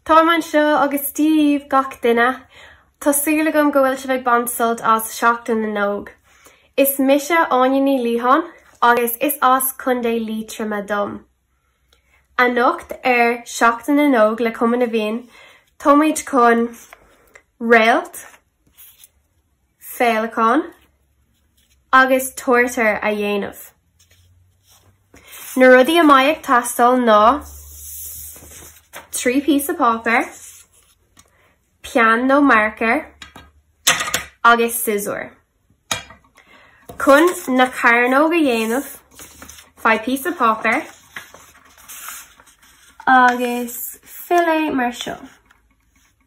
Tar ar maidin seo agus díbh, gach duine! Tá súil agam go bhfuil sibh ag baint sult as Seachtain na nÓg. Is mise Áine Ní Liatháin agus is as Contae Liatroma dom. Anocht ar Seachtain na nÓg le Cumann na bhFiann, táimid chun réalt, féileacán agus turtar a dhéanamh. Na rudaí a mbeidh ag teastáil ná 3 píosa páipéir, peann nó marker agus siosúr. Chun na cearnóg a dhéanamh, faigh píosa páipéir agus fill é mar seo.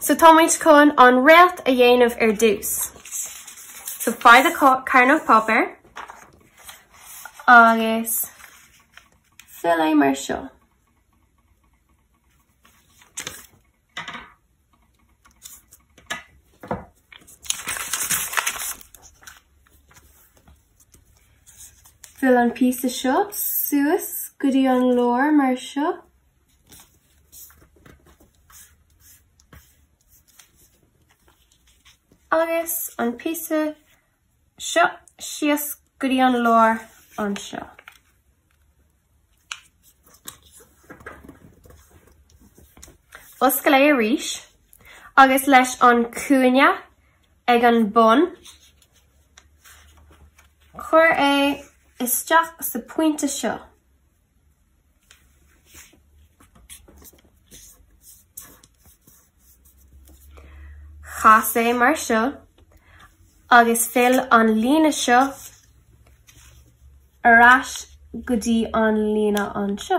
So táimid chun an réalt a dhéanamh ar dtús. So faigh do carnóg páipéir agus fill é mar seo. Fill an píosa seo suas go dtí an lár mar seo. Agus an píosa seo síos go dtí an lár anseo. Oscail é arís agus leis an cúinne ag an bun, cuir é isteach sa pointe seo. Cas é mar seo agus fill an líne seo ar ais go dtí an líne anseo.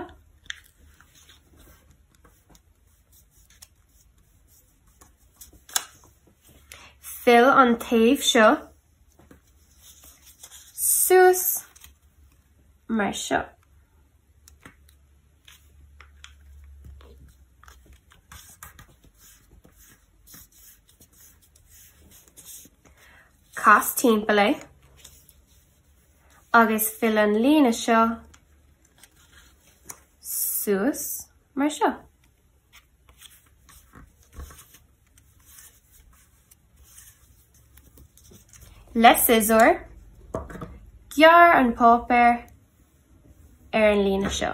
Fill an taobh seo suas mar seo. Cas timpeall é agus fill an líne seo suas mar seo. Le siosúr, gearr an páipéar ar an líne seo.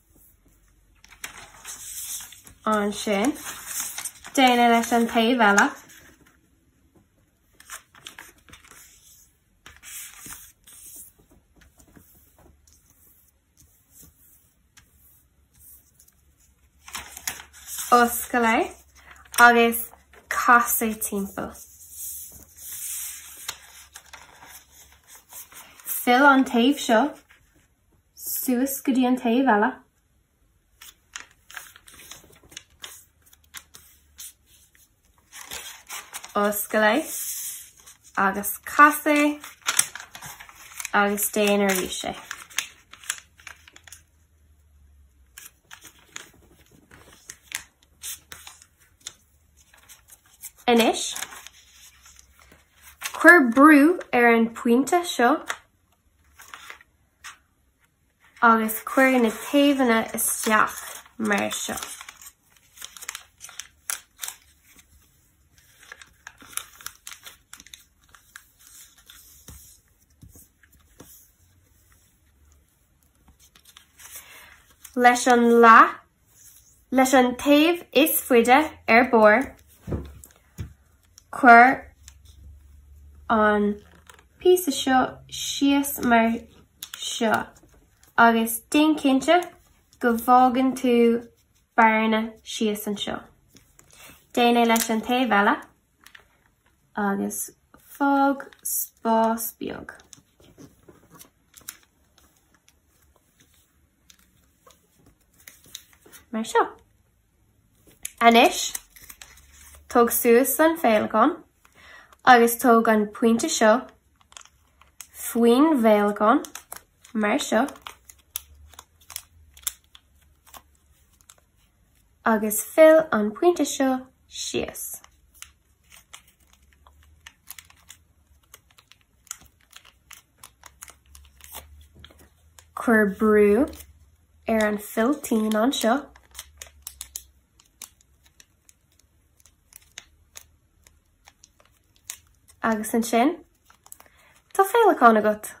Ansin, déan é leis an taobh eile. Oscail é agus cas é timpeall. Fill an taobh seo suas go dtí an taobh eile. Oscail é agus cas é agus déan arís é. Anois, cuir brú ar an pointe seo agus cuir na taobhanna isteach mar seo. leis an leath, leis an taobh is faide ar barr, cuir an píosa seo síos mar seo agus déan cinnte go bhfágann tú bearna síos anseo. Déan é leis an taobh eile. agus fág spás beag. mar seo. Anois, tóg suas an féileacán agus tóg an pointe seo faoin bhféileacán, mar seo. Agus fill an pointe seo síos. Cuir brú ar an bhfilltín anseo. Agus ansin, Tá féileacán agat!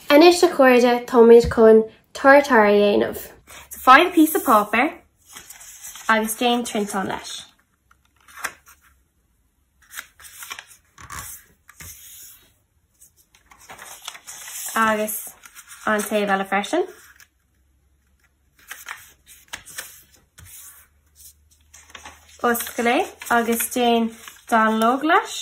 Anois a chairde táimid chun turtar a dhéanamh. So faigh píosa páipéir agus déan triantán leis. Agus an taobh eile freisin. Oscail é agus déan an dá líne leis.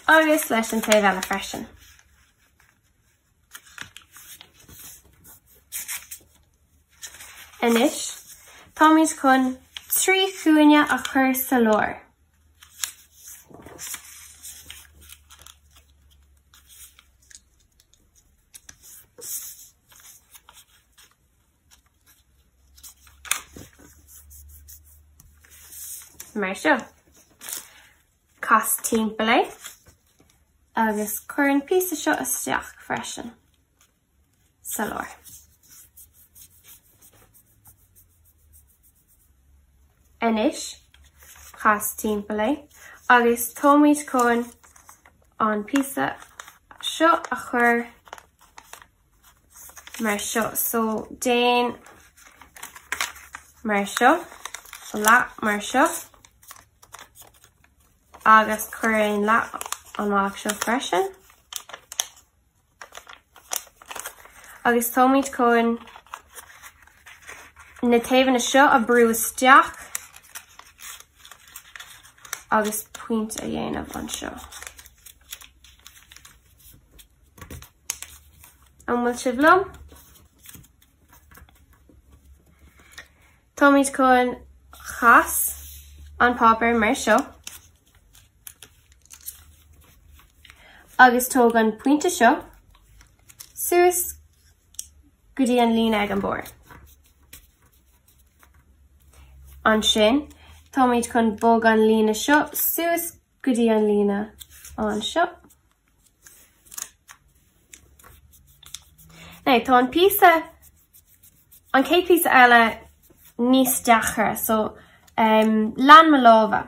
Agus leis an taobh eile freisin. Anois, táimid chun trí chúinne a chur sa lár. Mar seo. Cas timpeall é. Agus cuir an píosa seo isteach freisin. Sa lár. Anois, cas timpeall é agus táimid chun an píosa seo a chur mar seo. So déan mar seo, an leath mar seo agus cuir an leath mar seo freisin. Agus táimid chun na taobhanna seo a brú isteach agus pointe a dhéanamh anseo. An bhfuil sibh liom? Táimid chun chas an páipéar mar seo agus tóg an pointe seo suas go dtí an líne ag an mbarr. Ansin táimid chun bog an líne seo suas go dtí an líne anseo. Now tá an píosa, an chéad píosa eile níos deacra, so ehm lean mo lámha.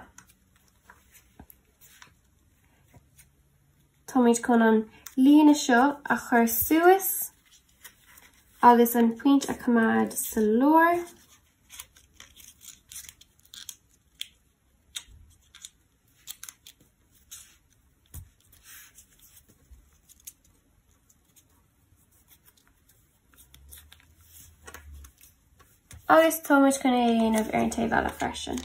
Táimid chun an líne seo a chur suas agus an pointe a choimeád sa lár. Agus tá muid chun é a dhéanamh ar an taobh eile freisin.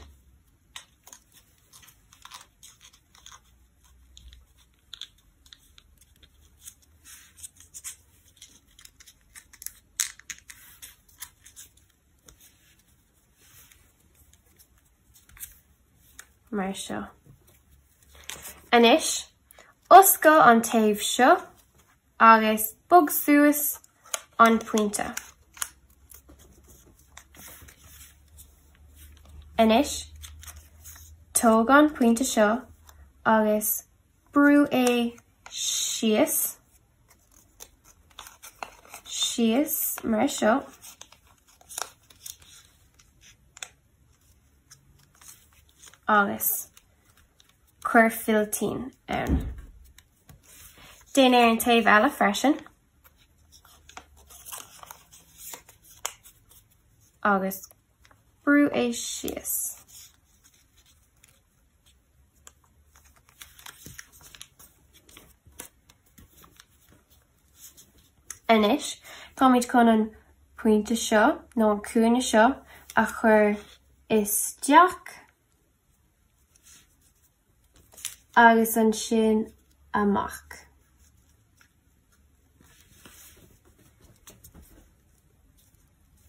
mar seo. Anois, oscail an taobh seo agus bog suas an pointe. Anois, tóg an pointe seo agus brú é síos. síos mar seo. agus cuir filltín ann. Déan ar an taobh eile freisin. agus brú é síos. Anois táimid chun an pointe seo, nó an cúinne seo, a chur isteach agus ansin amach.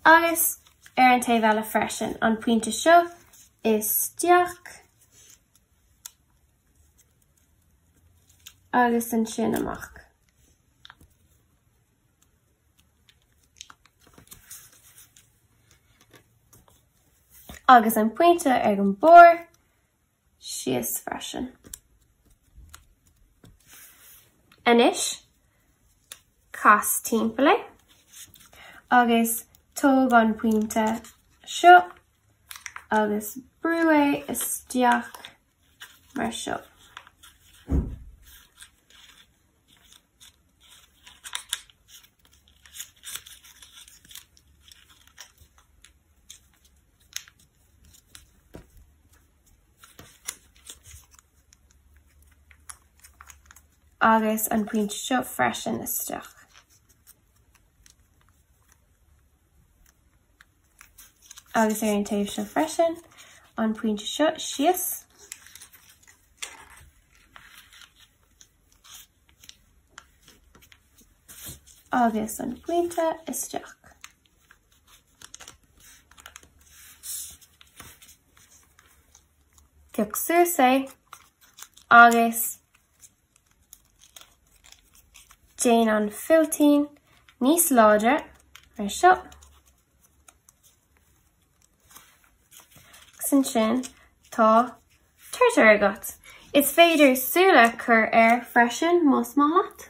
Agus ar an taobh eile freisin, an pointe seo isteach agus ansin amach. Agus an pointe ar an mbarr, síos freisin. Anois, cas timpeall é agus tóg an pointe seo agus brú é isteach mar seo. agus an pointe seo freisin isteach. agus ar an taobh seo freisin an pointe seo síos agus an pointe isteach. Pioc suas é agus déan an filltín níos láidir mar seo. Agus ansin tá turtar agat. Is féidir súile cur air freisin más maith leat.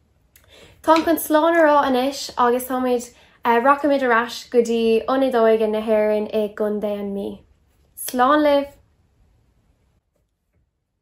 Táim chun slán a rá anois agus táimid, rachaimid ar ais go dtí Ionad Óige na hÉireann i gContae an Mí. Slán libh!